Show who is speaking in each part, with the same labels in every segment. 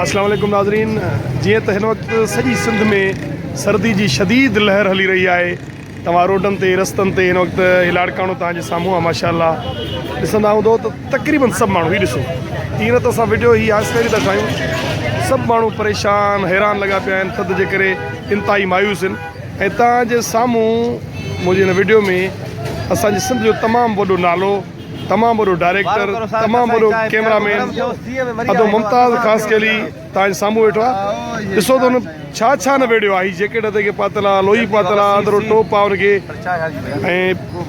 Speaker 1: السلام عليڪم ناظرين جيئن ته هن وقت سڄي سنڌ ۾ سردي جي شديد لهر هلي رهي آهي توهان روڊن تي رستن تي هن وقت هي لاڙڪاڻو توهان جي سامهون آهي ماشاء الله ڏسندا هوندو ته تقريبن سڀ ماڻهو هي ڏسو ائين نه ته اسان ويڊيو هي آهستي آهستي ٿا ٺاهيون سڀ ماڻهو پريشان حيران لڳا پيا آهن ٿڌ جي ڪري انتهائي مايوس آهن ۽ توهان جي سامهون منهنجي هن ويڊيو ۾ اسان جي سنڌ جو تمام وڏو نالو تمام وڏو ڊائريڪٽر تمام وڏو ڪيمرا مين ادو ممتاز خاصخيلي تاج سامهون ويٺو آ ڏسو ته هن ڇا ڇا نه ويڙهيو آ هي جيڪيٽ هٿي کي پاتل آ لوئي پاتل آ اندرو ٽوپ آ هن کي ۽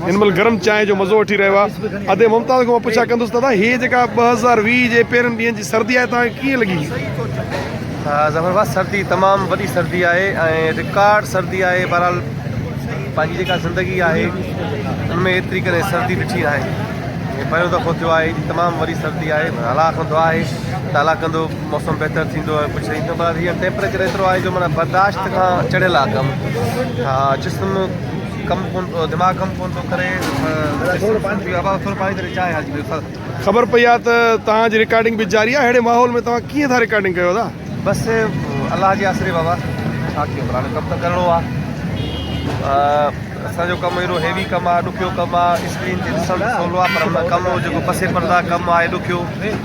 Speaker 1: هن مهل گرم چانهه جو مزو وٺي رهيو آ ادي ممتاز کان پڇا ڪندس دادا هي جيڪا 2020 جي پهرين ڏينهن جي سردي آهي تان ڪيئن لڳي
Speaker 2: ظفر بھا سردي تمام وڏي سردي آهي ۽ رڪارڊ سردي آهي بھرحال پنهنجي جيڪا زندگي آهي ان ۾ ايتري ڪڏهن سردي ڏٺي ناهي هي پهريون دفعو ٿيو آهي ايڏي تمام وڏي سردي آهي الله ڪن دعا آهي ته الله ڪندو موسم بهتر ٿيندو ۽ ڪجهه ٿيندو پر هينئر ٽيمپريچر ايترو آهي جو معنيٰ برداشت کان چڙهيل آهي ڪم ها جسم ڪم ڪون دماغ ڪم ڪون ٿو ڪري ٿورو پاڻي ته چانهه حاجي خبر پئي آهي
Speaker 1: ته توهان جي رڪارڊنگ به جاري آهي اهڙي ماحول ۾ توهان ڪيئن ٿا رڪارڊنگ ڪيو ادا بس
Speaker 2: الله جي آسري بابا ڇا ڪيون بران ڪم ته ڪرڻو آ اسان جو ڪم ايڏو هيوي ڪم آ ڏکيو ڪم آ اسڪرين تي ڏسڻ سولو آ پر هن ڪم جو پسي پردا ڪم آ ڏکيو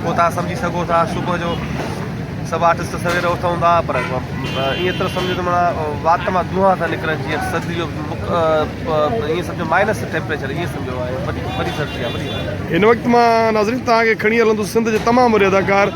Speaker 2: پو تان سمجهي سگهو ٿا صبح جو سڀ آرٽسٽ سوير اٿون ٿا پر ايئن طرح سمجهو ته مانا وات مان دونها ٿا نڪرن جيئن سردي جو ايئن سمجهو مائنس ٽيمپريچر ايئن سمجهو آهي وڏي سردي آ وڏي هن وقت مان
Speaker 1: ناظرين تان کي کڻي هلندس سنڌ جي تمام وڏي اداڪار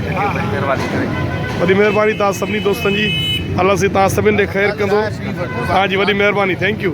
Speaker 2: ويڊيو وڏي مھرباني ڪري. وڏي
Speaker 1: مھرباني توھان سڀني دوستن جي الله سائين توھان سڀني تي خير ڪندو توھان جي وڏي مھرباني ٿينڪ يو.